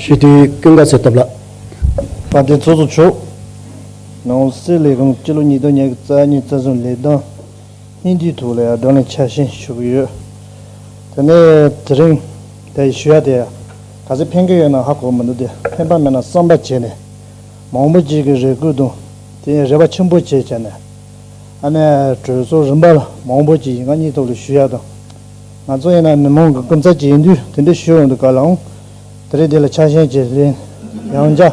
ཞུས་དུས་སྐྱོན་འགའ་བཟོད་ཐུབ་ལ། བཀའ་དྲིན་ཚོགས་སུ་ཆུགས། ནང་སྲིད་ལས་ཁུངས་སྤྱི་ལོ་ཉིས་སྟོང་ཉེར་གསར་གཉིས་རྩ་ཟུང་ལས་དོན་སྙིང་བསྡུས་ཐུགས་ལ་ཡར་དྲན་ལས་འཆར་བཞིན་ཞུ་གི་ཡོད། དེ་ནས་དེ་རིང་དེ་ཡི་ཞུ་ཡ་དེ་ག་ཚོད་ཕན་གི་ཡོད་ན་ཧ་གོ་མི་འདུག་དེ་ཕན་པ་མེད་ན་བསམ་པ་བྱས་ནས་མང་པོ་ཅིག་གི་རེ་སྐུལ་དང་དེ་ཡི་རེ་བ་ཆེན་པོ་བཅས་བྱས་ནས་ཨ་ནེ་གྲོས་ཚོགས་རིམ་པ་ལ་མང་པོ་ཅིག་ཡི་ག་གཉིས་ཐོག་ལ་ཞུ་ཡ་དང། ང་ཚོ་ཡིན་ན་མི་མང་གི་སྐུ་ཚབ་ཅིག་ཡིན་དུས་དེ་འདྲའི་ཤོད་ཡོང་དུ་ག་ལ་འོང། དེ་རིང་དེ་ལ་ཆགས་ཞེན་གྱིས་ལན་ཡང་བརྒྱ།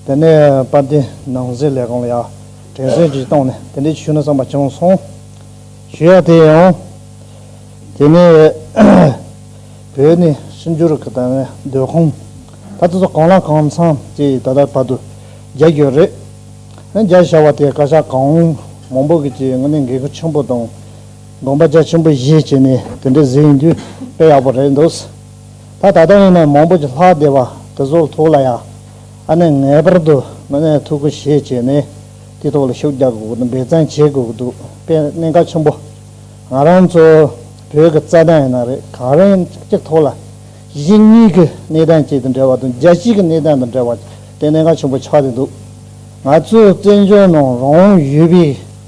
དེ་ནས་དཔལ་ལྡན་ནང་སྲིད་ལས་ཁང་ལ་ཡང་དྲན་གསོའི་ཅིག་བཏང་ནས་དེ་འདྲའི་ཞུ་ན་བསམ་པ་བྱུང་སོང། ཞུ་ཡག་དེ་ཡང། དེ་ནས་བོད་ནས་ཕྱི་འབྱོར་གྱི་དང་བའི་སྡོད་ཁང་ད་ལྟ་ཚོ་གང་ལ་གང་འཚམ་ཅིག་ད་ལྟ་བར་དུ་རྒྱ་གྱུར་རེད། རྒྱ་བྱ་བ་དེ་བཀའ་ཤག་གང་མང་པོ་གྱིས་ངོ་ནས་འགན་ཁུར་ཆེན་པོ་དང། དགོངས་པ་རྒྱ་ཆེན་པོ་བཞེས་བྱས་ནས་དེ་འདྲའི་གཟིགས་འདུས་དཔེ་ཡག་པོ་རེད་འདུག། ད་ད་ལྟ་ཡིན་ན་མང་པོ་གྱི་ལྷག་བདེ་བ་དེ་ཚོར་ཐུག་ལ་ཡ་ཨ་ནས་ངེས་པར་དུ་མི་སྣའི་ཐུགས་ཁུར་བཞེས་བྱས་ནས་དེའི་ཐོག་ལ་ཤུགས་རྒྱག་དགོས་དགོས་འདུག་འབད་བརྩོན་བྱེད་དགོས་དགོས་འདུག་དཔེ་གནད་འགག་ཆེན་པོ། ང་རང་ཚོ་བོད་ཀྱི་རྩ་དོན་ཡིན་ན་རེད་གང་རེད་ཡིན་གཅིག་ཐོག་ལ་གཞི་གཉིས་ཀྱི་གནད་དོན་གཅིག་དང་འབྲེལ་བ་དང་རྒྱལ་སྤྱི་ཀྱི་གནད་དོན་དང་འབྲེལ་བ་དེ་གནད་འགག་ཆེན་པོ་ཆགས་བསྡད་འདུག་ང་ཚོའི་བཙན་བྱོལ་ནང་རང་ཡུལ་པའི།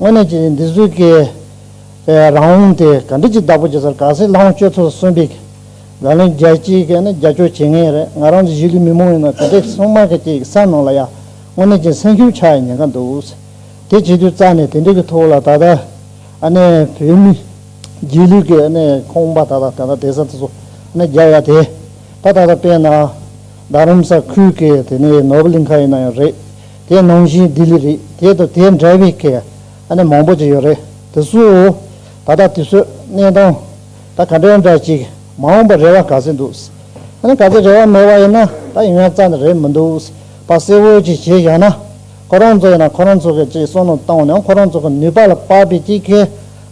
དངོས་གནས་ཀྱི་འདི་ཟུར་ཀའི། རང་དབང་དེ་ག་འདྲ་ཅིག་བདག་པོ་བྱེད་སར་ག་སའི་ལྷ་མོ་སྤྱོད་ཚོགས་གསོན་པའི། ལ་ལན་རྒྱ་སྤྱིའི་ཀ་ནི་རྒྱ་སྐྱོར་བྱེད་ངེས་རེད་ང་རང་ཚོ་གཞིས་ལུས་མི་མང་ཡིན་ན་དེ་འདྲའི་སྲུང་དམག་གི་ཅིག་སར་ནང་ལ་ཡ། དངོས་གནས་ཀྱི་སེམས་ཤུགས་ཆགས་ཡ་ཉེན་ཁ་འདུག། དེ་བྱེད་དུས་རྩ་ནས་དེ་འདྲའི་གི་ཐུགས་ལ་ད་ལྟ། ཨ་ནི་བོད་མི། གཞིས་ལུས་ཀྱི་ཨ་ནི་ཁོང་པ་ད་ལྟ་དེ་འདྲ་དེ་ས་དེ་ཚོ་ཨ་ནི་རྒྱབ་ཡ་དེ། ད་ད་ལྟ་དཔེ་ན། རྡ་རམ་ས་ཁུལ་གྱི་དེ་ནི་ནོར་བུ་གླིང་ཁ་ཡིན་ན་ཡང་རེད། དེ་ནང་བཞིན་ལྡི་ལི་རིགས་དེ་དང་དེ་འདྲ་བའི་སྐད་ནི་མང་པོ་ཅིག་ཡོད་རེད་དེ་སུའོ། ད་ལྟ་དུས་ཚོད་གནས་སྟངས་ད་ག་འདྲ་འདྲ་ཅིག་མ་འོངས་པར་རེ་བ་ག་ཚོད་འདུག་ཨ་ནི་ག་ཚོད་རེ་བ་མེད་པ་ཡིན་ན་ད་ཡིན་ཡང་རྩ་ནས་རེད་མི་འདུག་པ་གསལ་བོ་ཅིག་བྱས་བཞག་ན་ཁོ་རང་ཚོ་ཡིན་ན་ཁོ་རང་ཚོ་གི་ཅིག་གསུང་ནང་བཏང་ནས་ཁོ་རང་ཚོ་གི་ནུས་པ་ལ་དཔག་པའི་ཅིག་གི་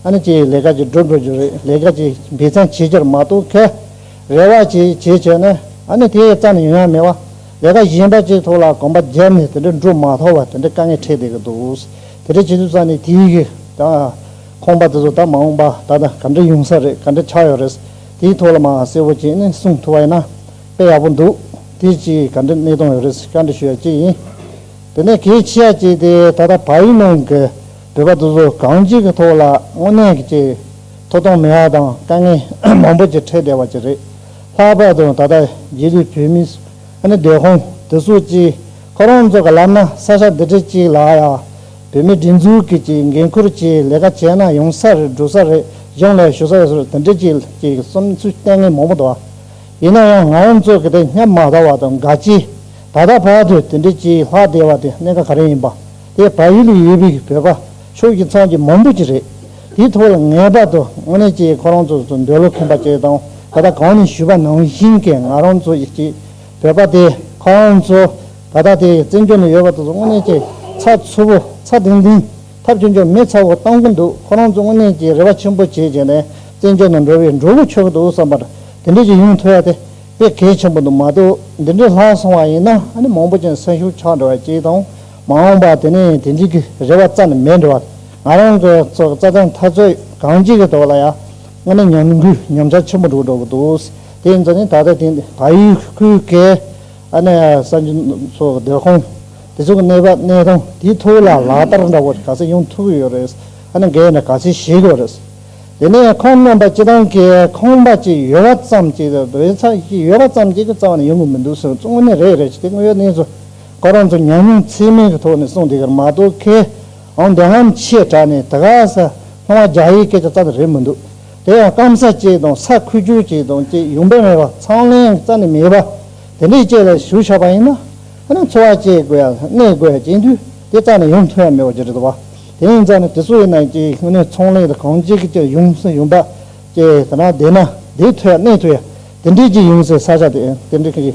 ཨ་ནི་ཅིག་ལས་ཀ་ཅིག་བསྒྲུབ་འགྲོ་རྒྱུ་རེད་ལས་ཀ་ཅིག་འབད་བརྩོན་བྱེད་རྒྱུར་མ་གཏོགས་གལ། རེ་བ་བྱས་བྱས་བྱས་ནས་ཨ་ནི་དེ་ཙམ་ཡང་ཡང་མེད་བ། ལས་ཀ་གཞན་པ་ཅིག་ཐོག་ལ་གོམ་པ་བརྒྱབ་ནས་དེ་འདྲ་འགྲུབ་མ་ཐོག་བ་དེ་འདྲ་དཀའ་ངལ་འཕྲད་བསྡད་ཀྱི་འདུག་དེ་འདྲ་བྱེད་དུས་ཙམ་ནས་དེའི་གི་ད་ཁོང་པ་དེ་ཚོ་ད་མ་འོངས་པ་ད་ད་ག་འདྲ་ཡོང་ས་རེད་ག་འདྲ་ཆགས་ཡོད་རེད་དེའི་ཐོག་ལ་མ་གསལ་བོ་བྱས་ནས་གསུང་ཐུབ་པ་ཡིན་ན་དཔེ་ཡག་པོ་འདུག་དེ་ཅི་ག་འདྲ་གནས་སྟངས་ཡོད་རེད་ག་འདྲ་ཞུ་ཡ་ཅི་ཡིན་དེ་ནས་གལ་ཆེ་ཡ་ཅིག་དེ་ད་ད་བ་ཡིན་ནང་གི་བོད་པ་དེ་ཚོ་གང་ཅིག་གི་ཐོག་ལ་དངོས་གནས་ཀྱི་མཐོ་གཏོང་མེད་ཨ་དང་དཀའ་ངལ་མང་པོ་ཅིག་འཕྲད་བསྡད་བ་ཅིག་རེད། ལྷག་པར་དུ་ད་ལྟ་རྒྱལ་རིགས་བོད་མི་ཚོའི་བདེ་དཔུང་བདེ་སྲུང་སྤྱི་ཁོ་རང་ཚོ་གི་ལམ་ན་ས་ཞག་འདི་འདྲི་ཅིག་ལ་ཡང་བོད་མི་སྒྲིག་འཛུགས་ཀྱི་ཅིག་འགན་ཁུར་ཅིག་ལས་ཀ་བྱས་ན་ཡོང་ས་རེད་འགྲོ་ས་རེད་གཞུང་ལ་ཞུ་ས་རེད་ཟེར་འདྲི་ཅིག་ཅིག་བསམ་ཚུལ་གཏན་ངེས་མང་པོ་འདུག་ཡིན་ན་ཡང་ང་རང་ཚོ་གི་དེ་སྙམ་མ་ཐག་བ་དང་དགའ་ཆེ། ད་ལྟ་བར་དུ་དེ་འདྲི་ཅིག་ལྷག་བསྡད་བ་དེ་གནད་འགག་ག་རེ་ཡིན་པ། དེ་བལ་ཡུལ་ལ་ཡོད་པའི་བོད་པ་ཕྱོགས་ཀྱི་ཚང་གི་མང་པོ་ཅིག་རེད། དེའི་ཐོག་ལ་ངེས་པར་དུ་དངོས་གནས་ཀྱིས་ཁོ་རང་ཚོས་འདོད་བློ་ཁེངས་པ་བཅས་དང་ད་ལྟ་གང་ནས་ཞུས་པ་ནང་བཞིན་གྱི་ང་རང་ཚོ་ཡི་གཅིག་བོད་པ་དེ་ཁོ་རང་ཚོ་ད་ལྟ་དེ་བཙན་བྱོལ་ནས་ཡོད་པ་དེ་ཚོ་དངོས་གནས་ཀྱིས་ཚ་ཚུར་བོ་ཚ་དིང་དིང་ཐབས་ཀྱི་འཇོག་མེད་ཚ་བོ་བཏང་གི་འདུག་ཁོ་རང་ཚོ་དངོས་གནས་ཀྱིས་རེ་བ་ཆེན་པོ་བྱེད་བྱེད་ནས་བཙན་བྱོལ་ནས་འགྲོ་བའི་འགྲོ་བོ་ཆོག་གི་འདུག་བསམ་པར་དེ་འདྲས་ཀྱི་ཡོང་ཐུབ་ཡ་དེ་དཔེ་གལ་ཆེན་པོ་འདུག་མ་གཏོགས་འདི་འདྲས་ལྷག་སོང་བ་ཡིན་ན་ཨ་ནི་མང་པོ་ཅན་སེམས་ཤུགས་ཆག་འགྲོ་བ་བཅས་དང། མ་འོངས་པ་དེ་ནི་དེ་འཇིག་གི་རེ་བ་རྩ་ནས་མེད་འགྲོ་བར་ང་རང་གི་རྩ་དོན་མཐའ་རྩོད་གང་ཅི་གི་ཐོག་ལ་ཡང་ང་ནི་ཉམས་རྒུད་ཉམས་ཆག་ཆེན་པོ་འགྲོ་འགྲོ་གི་འདུག་དེ་ནི་ད་ལྟ་དེ་འདི་ཕ་ཡུལ་ཁུལ་གྱི་ཨ་ནེ་ས་འཇུ་ཚོ་སྡོད་ཁང་དེ་ཚོ་གི་གནས་བབ་གནས་སྟངས་དེའི་ཐོག་ལ་ལག་བསྟར་འདྲ་བོ་ག་ཚད་ཡོང་ཐུབ་ཀྱི་ཡོད་རེད་ཨ་ནེ་འགས་ནས་ག་ཚད་བྱེད་ཀྱི་ཡོད་རེད། དེ་ནས་ཁང་རྣམ་པ་སྤྱི་དང་གི་ཁང་པ་ཅིག་ཡོད་པ་ཙམ་གྱི་རེ་ཚ་ཞིག་ཡོད་པ་ཙམ་གྱི་རྩ་བ་ནས་ཡོང་གི་མི་འདུག་སོང་ཙང་ནི་རེད་རེད་ཅེས་དེ་དངོས་ཡོད་གནས་ཚུལ། ཁོ་རང་ཚོ་ཉམས་མྱོང་ཚད་མེད་ཀྱི་ཐོག་ནས་གསུངས་འདི་གར་མ་གཏོགས་ཁའི་ཨང་འདེམས་ངམ་ཆེ་དྲགས་ནས་དེ་ག་ས་ལྷུང་བ་རྒྱག་ཡས་སྐད་ཆ་རྩ་ནས་རེད་མི་འདུག་དེ་ཡང་སྐམ་ས་ཅིག་དང་ས་ཁུལ་ཆུང་ཅིག་དང་ཅིག་ཡུམ་པས་མེད་པ་ཚང་ལན་གྱི་རྩ་ནས་མེད་པ་དེ་འདྲས་བཅས་ལ་ཞུགས་ཆོག་པ་ཡིན་ན་ཧ་ནི་འཚོ་བ་སྐྱེལ་དགོས་ཡ་གནས་དགོས་ཡ་ཅིག་འདུག་དེ་རྩ་ནས་ཡུམ་ཐོན་ཡ་མེད་པ་ཅིག་རེད་འདུག་བ་དེ་ཡིན་རྩ་ནས་དེ་སུ་ཡིན་ན་ཅིག་ཧ་ནི་ཚང་ལན་གྱི་གང་ཅིག་ཅིག་ཡུམ་ས་ཡུམ་པ་ཅིག་དེ་ན་བསྡད་ན་དེ་ཐོན་ཡ་གནས་ཐུ་ཡ་དེ་འདྲས་ཅིག་ཡིན་སའི་ས་ཆ་དེ་འདྲས་ཀྱི།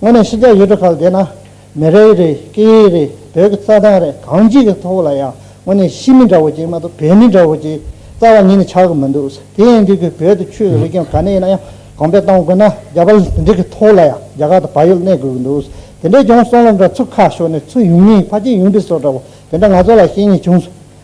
དངོས་ནས་ཤི་རྒྱག་ཡུལ་གྲུ་ཁག་བརྒལ་ན། མེ་རེག་རེད་སྐེ་ཡི་རེད་བོད་ཀྱི་རྩྭ་ཐང་རེད་གང་ཅི་གི་ཐོག་ལ་ཡང་དངོས་ནས་ཤི་མི་འདྲ་བོ་ཅིག་མ་གཏོགས་བོད་མི་འདྲ་བོ་ཅིག་རྩ་བ་ཉིད་ནས་ཆགས་གི་མི་འདུག་དེ་ཡིན་དུས་ཀྱི་བོད་དུ་ཆོས་ཀྱི་རིག་གཞུང་ག་ནས་ཡིན་ན་ཡང་གོང་སྤེལ་གཏོང་དགོས་ན་རྒྱ་བལ་འབྲི་གི་ཐོག་ལ་ཡང་རྒྱ་གར་དང་བལ་ཡུལ་གནས་དགོས་གི་འདུག་དེ་འདྲའི་གྱོང་སོང་ལོ་འདྲ་ཚུགས་ཁ་ཤོར་ནས་ཚུར་ཡུང་མིའི་ཕ་སྐྱིད་ཡུང་འབྲི་སོགས་འདྲ་བོ་དེ་འདྲ་ང་ཚོ་ལ་ཤེས་ངེས་བྱུང་སོང།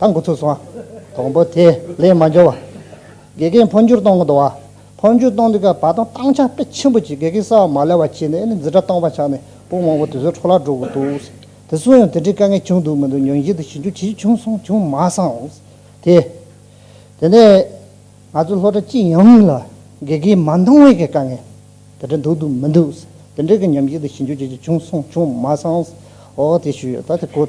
དང་འགོ་ཚུགས་སོང། དང་པོ་དེ་ལས་མ་འབྱོར་བར། དགེ་རྒན་འཕོ་འགྱུར་གཏོང་གི་འདུག་བ། འཕོ་འགྱུར་གཏོང་དུས་སྐབས་བར་སྟོང་བཏང་ཆ་དཔེ་ཆེན་པོ་གཅིག་དགེ་རྒན་གསར་བ་མ་ལས་བ་བྱས་ནས་ཨེ་ནི་འཛིན་གྲྭ་སྟོང་པ་ཆགས་ནས་དཔུང་མང་པོ་དུས་ཚོད་འཕྲོ་བརླག་འགྲོ་དགོས་འདུག། དེ་གསུང་ཡང་དེ་འདྲའི་དཀའ་ངལ་བྱུང་འདུག་མི་འདུག་ཉོན་ཅིག་དེ་ཞིབ་འཇུག་བྱེད་རྒྱུ་བྱུང་སོང་བྱུང་མ་སོང། དེ། དེ་ནས། ང་ཚོའི་སློབ་གྲྭ་སྤྱི་ཡོངས་ལ་དགེ་རྒན་མ་འདང་བའི་དཀའ་ངལ། དེ་འདྲ་འདུག་འདུག་མི་འདུག། དེ་འདྲའི་དཀའ་ཉམས་ཅིག་དེ་ཞིབ་འཇུག་བྱེད་རྒྱུ་བྱུང་སོང་བྱུང་མ་སོང། འོ་དེ་ཞུས་ཡོད་ད་དེ་གོ།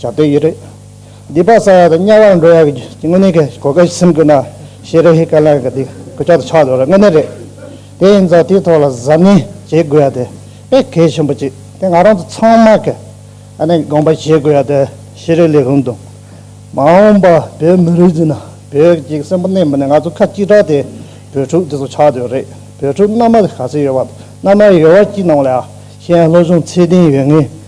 བྱ་འདོད་ཡོད་རེད། འདི་པགས་བསགས་ཡག་དང་དམྱལ་བར་འགྲོ་ཡག་གི་དངོས་གནས་ཀྱི་གོ་སྐབས་ཤིག་སེམས་དགོས་ན་ཤེས་རིག་སྐད་ལ་གི་འདི་གོ་ཆོད་དུ་ཆགས་འགྲོ་རེད་དངོས་གནས་རེད། དེ་ཡིན་ཙང་དེའི་ཐོག་ལ་གཟབ་ནན་བྱེད་དགོས་ཡག་དེ་དཔེ་གལ་ཆེན་པོ་གཅིག་དེ་ང་རང་ཚོ་ཚང་མ་གི་ཨ་ནེ་དགོངས་པ་བཞེས་དགོས་ཡག་དེ་ཤེས་རིག་ལས་ཁུངས་དང། མ་འོངས་པ་བོད་མི་རིགས་ཚོས་ན་བོད་གཅིག་སེམས་པ་གནས་མི་ནས་ང་ཚོ་ཁ་གཅིག་གྲགས་དེ་བོད་ཕྲུག་འདི་ཚོ་ཆགས་འདོད་རེད་བོད་ཕྲུག་མནའ་མ་ག་ཚོད་ཡོད་པ་མནའ་མ་ཡོད་བ་གཅིག་གནང་བ་ལ་ཤེས་ཡོན་སློབ་སྦྱོང་ཚད་ལྡན་ཡོད་ངེས་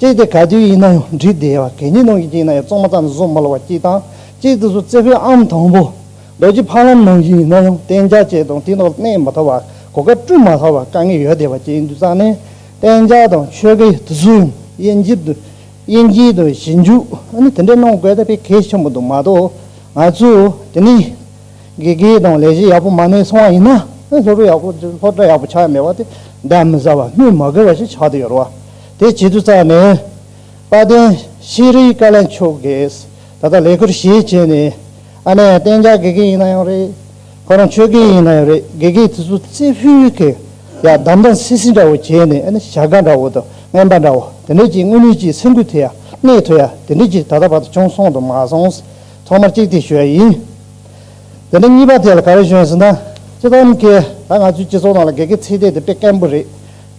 ཅེས་དེ་ག་དུས་ཡིན་ན་ཡང་འབྲི་བདེ་བ་གད་སྙིགས་ནང་གི་ཅིག་ན་ཡང་བཙོང་མ་ཙམ་ལས་བཟོ་མ་ལོ་བ་ཅིག་དང་གཅིག་དེ་ཚོ་བརྩེ་བའི་ཨམ་དང་པོ། རྡོ་རྗེ་ཕ་ལམ་ནང་བཞིན་ཡིན་ན་ཡང་གཏན་འཇགས་བྱས་དང་དེ་ནང་གནས་མ་ཐག་པ་གོ་སྐབས་བསྐྲུན་མ་ཐག་པ་དཀའ་ངལ་ཡོད་བདེ་བ་ཅིག་ཡིན་དུས་བསམ་ནས་གཏན་འཇགས་དང་ཆོས་ཁའི་དུས་སུ་ཡང་དབྱིན་ཇིར་དུ་དབྱིན་ཇིའི་དུ་ཞིབ་འཇུག་ནི་དེ་འདྲའི་གནང་དགོས་ད་པའི་གལ་ཆེན་པོ་འདུག་མ་གཏོགས་ང་ཚོས་དེ་ནས་དགེ་རྒན་དང་ལས་བྱེད་ཡག་པོ་མ་གནས་སོང་བ་ཡིན་ན་སློབ་གྲྭ་ཡག་པོ་ཆགས་མེད་པ་དེ་བདེན་མི་ཟ་བ་སྨོས་མ་དགོས་པ་ཞིག་ཆགས་དུ་ཡོད་རེད་བ། དེ་བྱེད་དུ་བཅར་ནས། དཔལ་ལྡན་ཤེས་རིག་བཀའ་བློན་མཆོག་གིས་ད་ལྟ་ལས་ཁུར་བཞེས་བྱས་ནས། ཨ་ནེ་བསྟན་འཇགས་དགེ་རྒན་ཡིན་ན་ཡང་རེད། ཁོ་རང་ཆོས་དགེ་ཡིན་ན་ཡང་རེད་དགེ་རྒན་དེ་ཚོ་རྩེ་ཕུད་ཀྱི་ཡ་དམ་དང་སིལ་སིལ་འདྲ་བོ་བྱས་ནས་ཨ་ནེ་བྱ་དགའ་འདྲ་བོ་དང་རྔན་པ་འདྲ་བོ་དེ་འདྲ་གྱིས་དངུལ་ལུས་ཀྱི་སེམས་འགུལ་དེ་ཡ་གནས་ཐོ་ཡ་དེ་འདྲ་གྱིས་ད་ལྟ་བར་དུ་བྱུང་སོང་དང་མ་སོང། ཐོག་མར་གཅིག་དེ་ཞུ་བ་ཡིན། དེ་འདྲ་གཉིས་པ་དེ་ལ་ག་རེ་བྱུང་ཟེར་ན། སྤྱི་བསྡོམས་ཀྱིས་ད་ང་ཚོའི་སྤྱི་ཚོགས་ནང་ལ་དགེ་རྒན་ཚིག་དེ་དེ་དཔེ་སྐམ་པོ་རེད།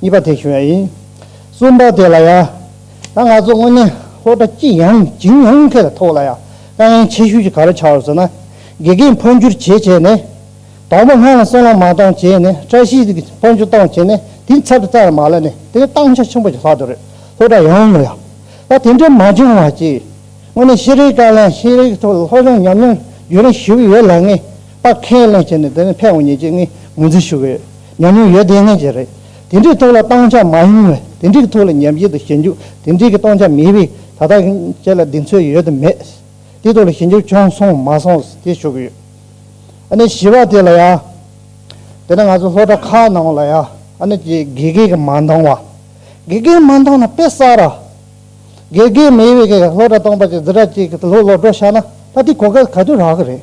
གཉིས་པ་དེ་བྱུང་བ་ཡིན། གསུམ་པ་དེ་ལ་ཡང། ད་ང་ཚོ་དངོས་གནས་ལྷོ་ད་ཅི་ཡང་ཇིང་ཡང་ཐད་ཀ་ཐོག་ལ་ཡང་དཀའ་ངལ་ཆེ་ཤོས་ཀྱི་ག་རེ་ཆགས་ཡོད་ཟེར་ན། དགེ་རྒན་འཕོ་འགྱུར་བྱས་བྱས་ནས། དང་པོ་སྔར་ལ་སེམས་ལ་མ་གཏོང་བྱས་ནས་བཀྲ་ཤིས་ཀྱི་འཕོ་འགྱུར་གཏོང་བྱས་ནས་དེ་ཚར་དུ་བཙལ་ལ་མ་ལས་ནས་དེ་བཏང་ཆ་ཆེན་པོ་ཞིག་ལྷག་ཏུ་རེད་ལྷོ་ད་ཡང་ལ་ཡང། ད་དེ་འདྲའི་མ་བྱུང་བ་ཅིག། དངོས་གནས་ཤེས་རིག་དཀའ་ལས་ཤེས་རིག་ཐོག་ལ་ལྷོ་སྦྱོང་ཉམས་མྱོང་རྒྱུན་རིང་ཞུ་གི་ཡོད་ལ་ངེས། པར་ཁས་ལེན་བྱས་ནས་དེ་ནས་ཕེབས་འོང་ཉེ་ཆེ་ངས་ངོས་འཛིན་ཞུ་གི་ཉམས་མྱོང་ཡོད་དེ་ངེས་ཅན་རེད། དེ་འདྲའི་ཐོག་ལ་སྟངས་ཆ་མ་ཡིན་བས་དེ་འདྲའི་ཐོག་ལ་ཉམས་ཞིབ་དང་ཞིབ་འཇུག་དེ་འདྲའི་གི་སྟངས་ཆ་མེད་བས་ད་ལྟ་ཁྱེད་ལ་གདེང་ཚོད་ཡོད་དམ་མེད། དེའི་ཐོག་ལ་ཞིབ་འཇུག་བྱུང་སོང་མ་སོང་དེ་ཞུ་གི་ཡོད། ཨ་ནི་བྱིས་པ་དེ་ལ་ཡང། དེ་ནས་ང་ཚོ་སློབ་གྲྭ་ཁག་ནང་ལ་ཡང་ཨ་ནི་ཀྱི་དགེ་རྒན་གི་མ་འདང་བ། དགེ་རྒན་མ་འདང་ན་དཔེ་གསར་ར། དགེ་རྒན་མེད་བས་སློབ་གྲྭ་སྟོང་པ་ཅིག་འདི་འདྲ་ཅིག་གི་སློབ་གྲོགས་ཤར་ན་ད་དེའི་གོ་སྐབས་ག་དུས་རག་གི་རེད།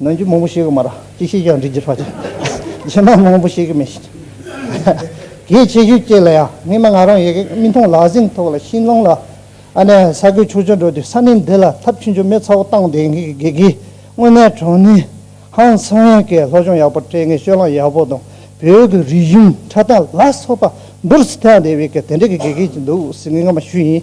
ན་རྒྱུ་མང་པོ་ཤེས་གི་མ་ར་ཅི་ཤེས་ཀྱང་འདྲི་རྒྱུ་ཧྲ་ཅི་ཡོད་ན་མང་པོ་ཤེས་གི་མེད་ཤེས་ཀྱི་གལ་ཆེ་ཤོས་ཀྱི་ལ་ཡང་ངས་མ་ང་རང་ཡི་གེ་མི་མཐོང་ལག་ཟིན་ཐོག་ལ་ཤིང་སློང་ལ་ཨ་ནེ་ས་རྒོད་ཆུ་ཆུ་འགྲོ་དུས་ས་གནས་འདི་ལ་ཐབས་ཆུང་ཆུང་མེད་ཚ་བོ་བཏང་བསྡད་མཁན་གྱི་དགེ་རྒན་དངོས་གནས་གྲོང་ནས་ཧང་སང་ཡན་གྱི་སློབ་སྦྱོང་ཡག་པོ་སྤྲད་མཁན་ཤོད་ལང་ཡག་པོ་དང་བོད་ཀྱི་རིག་གཞུང་ཕྲ་ཐང་ལ་སོགས་པ་འབུར་སི་ཐན་བསྡད་པའི་གི་དེ་འདྲ་གི་དགེ་རྒན་ཅིག་འདུག་ཟེར་མཁན་ང་མ་ཞུ་ཡིན།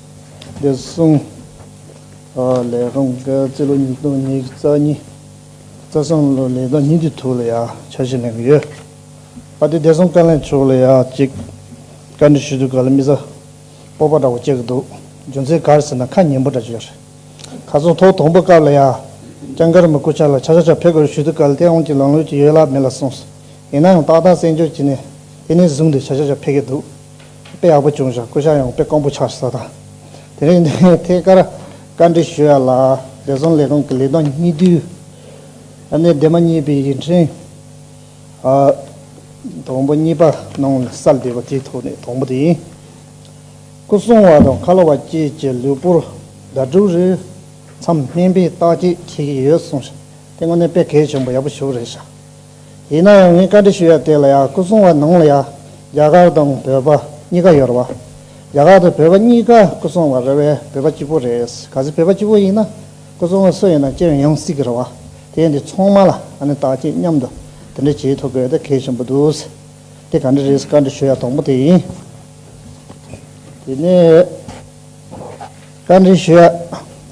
འདི་གསུངས། ལས་རུང་བཀའི་རྩིས་ལོ་ཉིས་སྟོང་ཉིས་བརྒྱ་རྩ་གཉིས། རྩ་གསུམ་ལོ་ལེགས་ཟླ་ཉི་དུས་ཐུགས་ལ་ཡང་ཆ་བཞི་ལེན་གྱི་ཡོད། ཨ་ཏི་བདེ་སྲུང་བཀའ་ལན་ཕྱོགས་ལ་ཡང་གཅིག། བཀའ་འདྲི་ཞུ་དུས་ག་ལ་མི་ཟ། སྤོབས་པ་འདྲ་བོ་སྐྱེ་གི་འདུག་རྒྱུ་མཚན་གར་ཟེར་ན་ཁ་ཉན་པོ་འདྲ་བྱེད་རེད། ཁ་སང་ཐོག་དང་པོ་སྐབས་ལ་ཡང། སྐྱང་དཀར་མོ་སྐུ་ཕྱྭ་ལ་ཆ་ཆ་ཆ་ཕེབས་དགོས་རེད་ཞུ་དུས་ག་ལ་སྟེས་དབང་གཅིག་ལང་ལོས་ཀྱི་ཡོད་ལ་མེད་ལ་གསུངས་སོང། ཡིན་ནའང་ཏག་ཏག་བཙན་བྱོལ་གྱི་ནས་དེ་ནས་བཟུང་སྟེ་ཆ་ཆ་ཆ་ཕེབས་ཀྱི་འདུག། དཔེ་ཡག་པོ་བྱུང་ཞིང་སྐུ་ཞང་ཡང་དཔེ་སྐམ་པོ་ཆགས་ས་དང། དེ་རིང་ནས་ཐད་ཀར་བཀའ་འདྲི་ཞུ་ཡ་ལ་བདེ་སྲུང་ལས་ཁུངས་ཀྱི་ལས་དོན་གཉིས་བསྡུས་ནས་སྡེ་མ་གཉིས་པའི་ཡིག་འཕྲིན་དང་པོ་གཉིས་པ་གནང་ནས་གསར་འདེབས་པ་དེའི་ཐོག་ནས་དང་པོ་དེ་ཡིན། སྐུ་སྲུང་བ་དང་ཁ་ལོ་བ་བཅས་ཀྱི་ལུས་པོར་དགྲ་དྲུག་རིས་མཚམས་སྨིན་པའི་རྟགས་ཅིག་འཁྱེར་གྱི་ཡོད་གསུངས་ཤིང་དེ་སྔོན་ནས་དཔེ་གལ་ཆེན་པོ་ཡག་པོ་བྱུང་རེད་བྱ། ཡིན་ན་ཡང་ངས་བཀའ་འདྲི་ཞུ་ཡ་དེ་ལ་ཡང་སྐུ་སྲུང་བ་ནང་ལ་ཡང་རྒྱ་གར་དང་བོད་པ་གཉིས་ཀ་ཡོད་རེད་བ། རྒྱ་གར་དང་བོད་པ་གཉིས་ཀ་སྐུ་སྲུང་བ་རེད་བས་བོད་པ་གཅིག་པོ་རེད། གལ་སྲིད་བོད་པ་གཅིག་པོ་ཡིན་ན་སྐུ་སྲུང་བ་སུ་ཡིན་ན་ཅི་ཡང་ཡོང་སྲིད་གི་རེད་བ། དེ་ཡིན་དུས་ཚང་མ་ལ་ཨ་ནི་བརྟག་དཔྱད་མཉམ་དུ་དེ་འདྲ་བྱེད་ཐུབ་དགོས་ད་གལ་ཆེན་པོ་འདུག། དེ་ག་འདྲ་རེད་བཀའ་འདྲི་ཞུ་ཡ་དང་པོ་དེ་ཡིན། དེ་ནས་བཀའ་འདྲི་ཞུ་ཡ་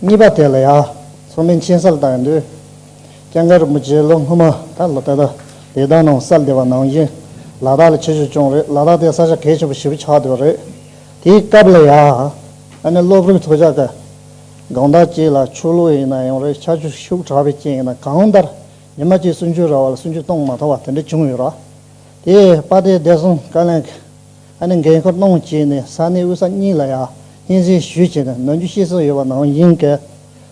གཉིས་པ་དེ་ལ་ཡང་ཚོགས་མི་མཆན་གསར་བཏང་ཡོད་འདུག། སྐྱེ་འགག་རིན་པོ་ཆེའི་ལོ་སྔོན་མ་ད་ལོ་ད་ལྟ་བདེ་ཐང་ནང་གསར་འདེབས་པ་ནང་བཞིན་ལ་དྭགས་ལ་ཆེ་ཤོས་བྱུང་རེད་ལ་དྭགས་དེ་ས་ཆ་གལ་ཆེན་པོ་བཞི་པོ་ཆགས་འདོད་རེད་དེའི་སྐབས་ལ་ཡང་ནི་སློབ་རིམ་ཐོག་ཆགས་སྐབས་གང་དག་ཅིག་ལ་ཆོས་ལུགས་ཡིན་ན་ཡང་རེད་ཆ་རྒྱུས་ཤུགས་དྲག་པའི་རྐྱེན་ཡིན་ན་གང་ལྟར་ཉི་མ་གཅིག་སུན་ཕྱུང་ར་བ་ལ་སུན་ཕྱུང་གཏོང་མ་ཐུབ་པ་དེ་འདྲ་བྱུང་ཡོད་ར་དེས་དཔའ་རྟའི་སྡེ་གསུམ་བཀའ་ལན་ཨ་ནི་འགན་ཁུར་གནང་བྱས་ནས་ས་གནས་དབུས་ས་གཉིས་ལ་ཡང་སྙན་གསེང་ཞུས་བྱས་ནས་ནང་རྒྱུ་ཤེས་གསལ་ཡོད་པ་ནང་བཞིན་གལ།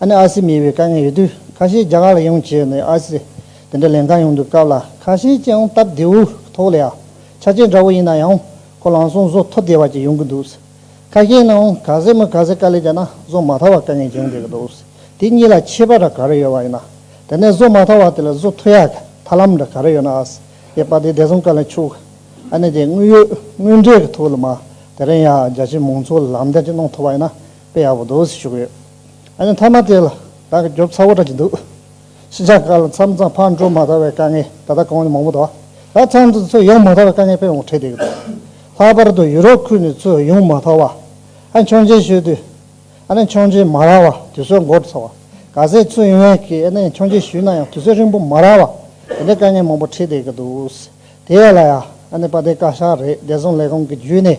ཨ་ནི་ཨ་སི་མེད་པའི་དཀའ་ངལ་ཡོད་དུས་ཁ་ཤས་རྒྱ་གར་ལ་ཡོང་བྱས་ནས་ཨ་སི་དེ་འདྲ་ལན་གང་ཡོང་འདུག་སྐབས་ལ་ཁ་ཤས་ཅན་ཡོང་སྟབས་རྡེའུ་ཐོག་ལས་ཨ་ཆ་ཅན་འདྲ་བོ་ཡིན་ན་ཡང་ཁོ་ལང་སོང་བཟོ་ཐོ་བདེ་བ་ཅིག་ཡོང་གི་འདུག་ཁ་ཤས་ནང་ག་ཟེ་མི་ག་ཟེ་དཀའ་ལས་བྱས་ན་བཟོ་མ་ཐག་བ་དཀའ་ངལ་འབྱུང་བསྡད་ཀྱི་འདུག་དེ་གཉིས་ལ་ཁྱད་པ་འདྲ་ག་རེ་ཡོད་བ་ཡིན་ན་དེ་ནས་བཟོ་མ་ཐག་བ་དེ་ལ་བཟོ་ཐོ་ཡག་ཐ་ལམ་འདྲ་ག་རེ་ཡོད་ན་ཨ་སི་ཡས་པ་དེ་བདེ་སོང་དཀའ་ལས་ཆོག་ཨ་ནི་དེ་དངོས་ཡོད་དངོས་འབྲས་ཀྱི་ཐོག་ལ་མ་དེ་རིང་ཡང་རྒྱ་ཆེ་མང་ཚོགས་ལ་ལམ་བསྟར་ཅིག་གནང་ཐུབ་བ་ཡིན་ན་དཔེ་ཡག་པོ་འདུག་ཞུ་གི་ཡོད། ཨ་ནི་མཐའ་མ་དེ་ལ་བདག་གི་རྒྱོབ་ཚ་བོ་དྲག་གི་འདུག། ཤིན་ཅང་ཀ་ལ་མཚམས་མཚམས་ཕར་འགྲོ་མ་ཐག་པའི་དཀའ་ངལ་ད་ལྟ་གང་ཡོད་མང་པོ་འདུག་ད་མཚམས་མཚམས་ཚོད་ཡོང་མ་ཐག་པའི་དཀའ་ངལ་ཕེབས་འོང་འཕྲད་བསྡད་ཀྱི་འདུག་ལྷག་པར་དུ་ཡུ་རོབ་ཁུལ་ནས་ཚོད་ཡོང་མ་ཐག་པ་ཨ་མཆོང་ཆེན་ཞུས་དུས་ཨ་ནི་མཆོང་ཆེན་མ་རག་བ་དུས་ཚོད་འགོར་ཚར་བ། ག་ཟེ་ཚོད་ཡོང་ཡན་གྱིས་ཨ་ནི་མཆོང་ཆེན་ཞུས་ན་ཡང་དུས་ཚོད་རིང་པོ་མ་རག་བ། དེ་འདྲའི་དཀའ་ངལ་མང་པོ་འཕྲད་བསྡད་ཀྱི་འདུག་དེ་ཡན་ལ་ཡང་ཨ་ནི་པ་དེ་བཀའ་ཤག་རེད་བདེ་སྲུང་ལས་ཁང་གི་བརྒྱུད་ནས་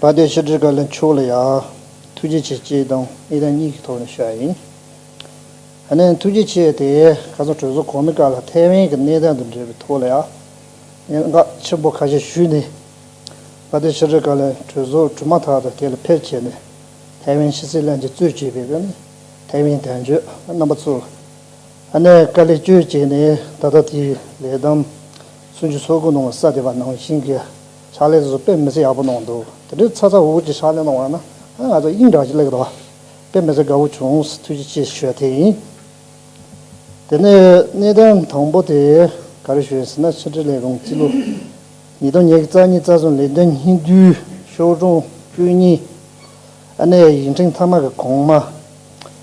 བ་སྟེ་ཕྱི་དྲིལ་བཀའ་ལས་མཆོག་ལ་ཡང། ཐུགས་རྗེ་ཆེ་ཅེས་དང་གཉིས་དང་གཉིས་ཀྱི་ཐོག་ནས་ཤོད་ཡིན། ཧ་ནན་ཐུགས་རྗེ་ཆེ་དེ་ག་ཚོད་གྲོས་ཚོགས་གོང་མའི་བཀའ་ལ་ཐའེ་ཝན་གྱི་གནས་སྟངས་དང་འབྲེལ་བའི་ཐོག་ལ་ཡང་སྙན་ངག་ཆེན་པོ་ཁ་ཤས་ཞུས་ནས། བ་སྟེ་ཕྱི་དྲིལ་བཀའ་ལས་གྲོས་ཚོགས་གྲོས་མ་དག་དང་དེ་ལ་ཕེབས་བྱས་ནས་ཐའེ་ཝན་ཕྱི་སྲིད་བློན་ཆེན་གཙོས་བྱས་པའི་བཀའ་ནི་ཐའེ་ཝན་དོན་གཅོད་རྣམ་པ་ཚོར་ཧ་ནན་བཀའ་ལས་གཅོད་བྱས་ནས་ད་ལྟ་དེའི་ལས་དམ་སུན་ཅུ་ཚོགས་སྐུ་གནང་བ་ས་དེ་བ་ནང་བཞིན་གྱི། ཕྱག་ལས་སུ་དཔེ་མི་ཚེ་ཡག་པོ་གནང་འདུག་དེ་འདྲའི་ཚ་ཚ་འུར་འུར་གྱི་ཕྱག་ལས་གནང་བ་ན་ང་ཚོ་དབྱིངས་དགྲ་གཅིག་ལས་གདའ། དཔེ་མི་ཚེ་དགའ་བོ་བྱུང་ཐུགས་རྗེ་ཆེ་ཞུ་བ་དེ་ཡིན། དེ་ནས་གནས་དོན་དང་པོ་དེ་ག་རེ་ཞུས་ཟེར་ན་ཕྱི་དྲིལ་ལས་ཁུངས་སྤྱི་ལོ་ཉིས་སྟོང་ཉེར་གཅིག་རྩ་གཉིས་རྩ་གསུམ་ལས་དོན་སྙིང་བསྡུས་ཤོག་གྲུང་བཅུ་གཉིས་ཨ་ནེ་ཡིག་འཕྲིན་མཐའ་མ་གི་གོང་མ་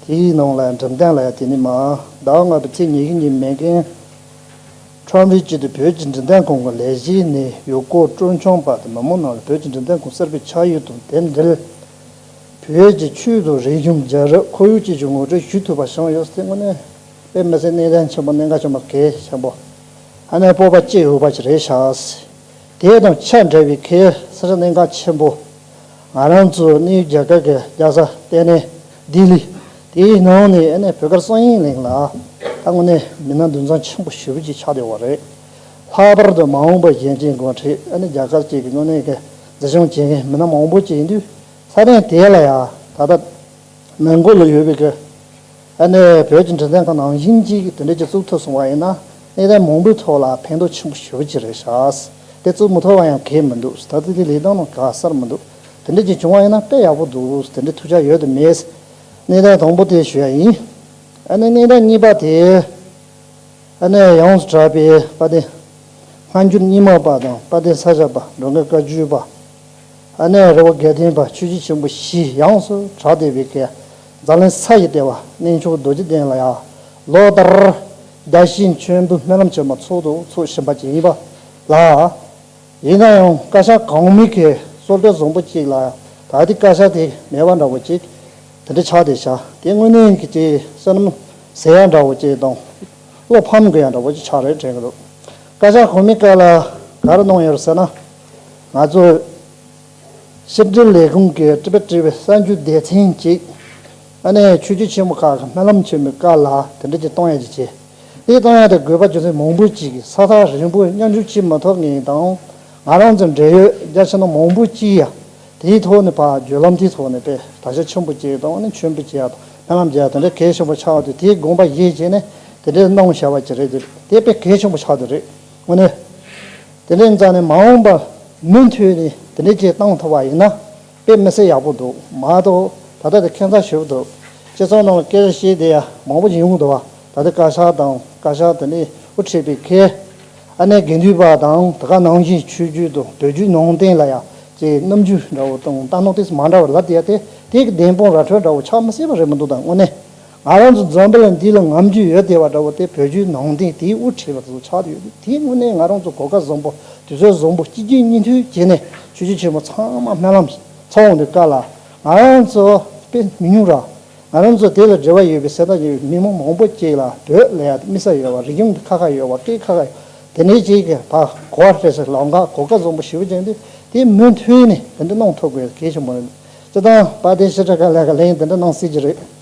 དེའི་ནང་ལ་འགྲེམས་སྟེང་ལ་ཡང་དེ་ནི་མ་ཟླ་བ་ལྔ་པའི་ཚེས་ཉེར་བཞི་ཉིན་མེག་གྷན་ཁྲོམ་རའི་དཀྱིལ་དུ་བོད་ཀྱི་འབྲི་ཐང་གོང་གི་ལས་གཞིའི་ནི་ཡུལ་སྐོར་བསྐྲུན་ཆོག་པ་དང་མ་མོ་ནང་ལ་བོད་ཀྱི་འབྲི་ཐང་གོང་གསར་པའི་ཆགས་ཡུལ་དང་དེར་འབྲེལ་བོད་ཀྱི་ཆོས་དང་རིག་གཞུང་རྒྱལ་རབས་ཁོར་ཡུག་བཅས་ཀྱི་ངོ་སྤྲོད་ཞུ་ཐུབ་པ་བྱུང་ཡོད་སྟེ་དངོས་གནས་དཔེ་མི་སྲིད་གནས་བརྟན་ཆེན་པོ་གནད་འགག་ཆེན་པོ་གལ་ཆེན་པོ་ཨ་ནེ་སྤོབས་པ་བཅས་ཡོད་པ་ཞིག་རེད་ཤག་དེ་དང་ཆ་འདྲ་བའི་གལ་སྲིད་གནད་འགག་ཆེན་པོ་ང་རང་ཚོའི་གནས་ཡུལ་རྒྱ་གར་གྱི་རྒྱལ་ས་ལྟེ་གནས་ལྡི་ལི། དེའི་ནང་ནས་ཨ་ནེ་བོད་སྒར་གསང་ཡིག་གླིང་ལ་ད་དངོས་གནས་མི་སྣ་འདུ་འཛོམས་ཆེན་པོ་ཞི་བུ་ཅིག་ཆགས་བསྡད་ཡོད་རེད། ལྷག་པར་དུ་མ་འོངས་པའི་གཞན་གཅེས་འགོ་ཁྲིད་ཨ་ནེ་རྒྱ་གར་བཅས་ཀྱི་དངོས་གནས་ཀྱི་མཛད་སྦྱོང་བྱེད་མཁན་མི་སྣ་མང་པོ་ཅིག་ཡིན་དུས་ས་གནས་དེ་ལ་ཡང་ད་ལྟ་མོན་གྷོ་ལ་ཡོད་པའི་ཀི་ཨ་ནེ་བོད་ཀྱི་འབྲེལ་ཟམ་ཁང་ནང་བཞིན་གཅིག་དེ་འདྲ་ཅིག་བཙུགས་ཐུབ་སོང་བ་ཡིན་ན་གནས་བརྟན་མང་པོའི་ཐོག་ལ་ཕན་ཐོགས་ཆེན་པོ་ཞི་བུ་ཅིག་རེད་ཤག། དེ་བཙུགས་མི་ཐུབ་པ་ཡང་གལ་མི་འདུག་ད་ལྟ་དེའི་ལས་དོན་ནང་ག་གསར་མི་འདུག་དེ་འདྲ་ཅིག་བྱུང་བ་ཡིན་ན་དཔེ་ཡག་པོ་འདུག་དེ་འདྲའི་ཐུགས་ཆགས་ཡོད་དུ་མེད། གནས་སྟངས་དང་པོ་དེ་ཞུ་ཡ་ཡིན། ཨ་ནི་གནས་སྟངས་གཉིས་པ་དེ། ཨ་ནི་ཡོངས་སུ་གྲགས་པའི་དཔའ་ལྡན། སྔ་འགྱུར་རྙིང་མ་པ་དང་དཔའ་ལྡན་ས་སྐྱ་པ་འགྲོ་མཁན་བཀའ་བརྒྱུད་པ། ཨ་ནི་རི་བོ་དགེ་ལྡན་པ་ཆོས་རྗེ་ཆེན་པོ་བཞི་ཡངས་སུ་གྲགས་བདེ་བའི་སྐལ་བཟང་ལན་ཚྭ་ཡི་ལྟེ་བ་གནས་མཆོག་རྡོ་རྗེ་གདན་ལ་ཡར་ལོག་ལྟར། བརྒྱ་བྱིན་མཆོད་འབུལ་སྨོན་ལམ་བྱེད་མ་ཚོགས་དུ་འཚོགས་བཞིན་པ་བཅས་ཡིན་པ་ལ། ཡིན་ན་ཡང་བཀའ་ཤག་གང་མིན་གྱི་སོར་བྲོ་བཟང་པོ་གཅིག་ལ་ད་ལྟའི་བཀའ་ཤག་དེ་མེ་བ་འདྲ་བོ་གཅིག་དེ་འདྲ་ཆགས་ཏེ་བཞག་དེ་དངོས་གནས་ཀྱི་ཀྱི་བསོད་ནམས་ཟེར་ཡག་འདྲ་བོ་གཅིག་དང་བློ་ཕམ་དགོས་ཡག་འདྲ་བོ་གཅིག་ཆགས་རེ་དྲན་གྱི་འདུག་བཀའ་ཤག་གང་མིན་བཀའ་ལ་ག་རེ་གནང་ཡོད་རེད་ཟེར་ན། ང་ཚོའི་ཕྱི་དྲིལ་ལས་ཁུངས་ཀྱི་དྲི་བ་དྲིས་པའི་གསར་འགྱུར་སྡེ་ཚན་གཅིག་ཨ་ནེ་ཆོས་རྒྱུད་ཆེན་མོ་ཁག་གི་སྨོན་ལམ་ཆེན་མོའི་བཀའ་ལ་དེ་འདྲ་གཅིག་གཏོང་ཡག་གཅིག་བྱས། པའི་བསྟོད་དབྱངས་དེ་དགོས་པ་རྒྱུ་མཚན་མང་པོ་གཅིག་གིས་ས་ཐག་རིང་པོ་མཉམ་ཞུགས་བྱེད་མ་ཐུབ་ངེས་དང། ང་རང་ཚོའི་འབྲེལ་ཡོད་རྒྱ་ཆེ་ན་མང་པོ་གཅིག་ཡང་དེའི་ཐོག་ནས་བརྗོད་ལམ་དེའི་ཐོག་ནས་པས་ད་ཆ་ཆེན་པོ་བཅས་དང་ནི་མཆོན་པོ་བཅས་དང་ཕན་ལམ་བརྒྱད་དེ་འདྲ་གལ་ཆེན་པོ་ཆགས་དུས་དེའི་དགོངས་པ་བཞེས་བྱས་ནས་དེ་འདྲའི་གནང་བྱ་བ་ཅི་རེད་དེ་རེད་དེ་པས་གལ་ཆེན་པོ་ཆགས་དུས་རེད་དངོས་གནས་དེ་འདྲའི་རྩ་ནས་མ་འོངས་པར་མུ་མཐུད་ནས་དེ་འདྲའི་བཅས་གཏང་ཐུབ་པ་ཡིན་ན། དཔེ་མི་སེར་ཡག་པོ་འདུག་མ་གཏོགས་ད་ལྟ་དེ་ཁེངས་ཚ་ཞིབ་འདུག་སྤྱི་ཚོགས་ནང་སྐད་ཆ་བཤད་དེ་མང་པོ་ཡོང་འདུག་ད་ལྟ་བཀའ་ཤག་དང་བཀའ་ཤག་དེ་ནས་དབུ་ཁྲིད་པའི་ཁེ་ཨ་ནེ་དགེ་འདུན་པ་དང་དེ་ག་ནང་བཞིན་ཆོས་རྒྱུད་དང་བོད་རྒྱུད་ནང་བསྟན་ལ་ཡང་ཅེས་རྣམ་འགྱུར་འདྲ་བོ་དང་ལྟ་སྣང་སྟེགས་མ་འདྲ་བ་ལབ་དེ་ཡ་དེ་དེ་གི་བདེན་དཔང་ར་འཕྲོད་འདྲ་བོ་ཆགས་མི་སྲིད་པ་རེད་མི་འདུག་ད་དངོས་གནས་ང་རང་ཚོ་འཛོམས་པ་ལ་འདི་ལ་ངམ་རྒྱུས་ཡོད་ཟེར་བ་འདྲ་བོ་དེ་བོད་བརྒྱུད་ནང་བསྟན་དེའི་དབུ་ཁྲིད་པ་ཚོ་ཆགས་ཀྱི་ཡོད་དུས་དེའི་སྔོན་གནས་ང་རང་ཚོ་གོ་ཁ་བཟང་པོ་དུས་ཚོད་བཟང་པོ་སྤྱི་རྒྱུས་གཉིས་མཐུད་བྱས་ནས་ཆོས་རྒྱུད་ཆེན་པོ་ཚང་མ་སྨན་ལམ་ཚོགས་འདུ་བཀག་ལ་ང་རང་ཚོ་དཔེ་མི་ཉུང་ར་ང་རང་ཚོ་དེ་ལ་འབྲེལ་བ་ཡོད་པའི་སེར་ཐང་ཡོད་པའི་མི་མང་མང་པོ་ཅིག་ལ་བོད་ལ་ཡང་དམིགས་ས་ཡོད་བ་རིག་གཞུང་གི་ཁ་ཁ་ཡོད་བ་སྐད་ཁ་ཁ་དེ་འདྲའི་ཅིག་གི་བར་གོ་བ་ཧྲེ་ཧྲེ་ལགས་འགའ་གོ་ཁ་བཟང་པོ་ཞིག་བྱས་འདུག་དེ་མུ་མཐུད་ནས་དེ་འདྲ་གནང་ཐུབ་དགོས་གལ་ཆེན་པོ་རེད། སྤྱི་བཏང་པ་དེ་ཤེས་བྱ་ག་ལེ་ག་ལེ་ཡིན་དེ་འདྲ་གནང་སྲིད་ཀྱི་རེད།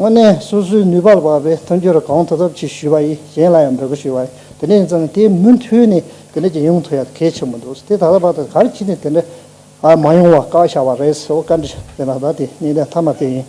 དངོས་གནས་སོ་སོའི་ནུས་པར་དཔག་པའི་མཐུན་འགྱུར་གང་ཐུབ་ཐབས་ཀྱིས་ཞུས་པ་ཡིས་གཞན་ལ་ཡང་འབོད་སྐུལ་ཞུས་པ་དེ་འདྲས་ཡིན་ཙང་དེ་མུ་མཐུད་ནས་དེ་འདྲས་ཀྱི་ཡོང་ཐུབ་ཡ་གལ་ཆེན་པོ་འདུག་དེ་ད་ལྟ་བར་དུ་གར་གྱིས་ནས་དེ་འདྲས་མ་ཡོང་བ་བཀག་བཞག་པ་རེད་སོགས་བཀའ་འདྲི་ཞུས་ན་བདག་དེ་སྙིང་གཏད་མཐའ་མ་དེ་ཡིན།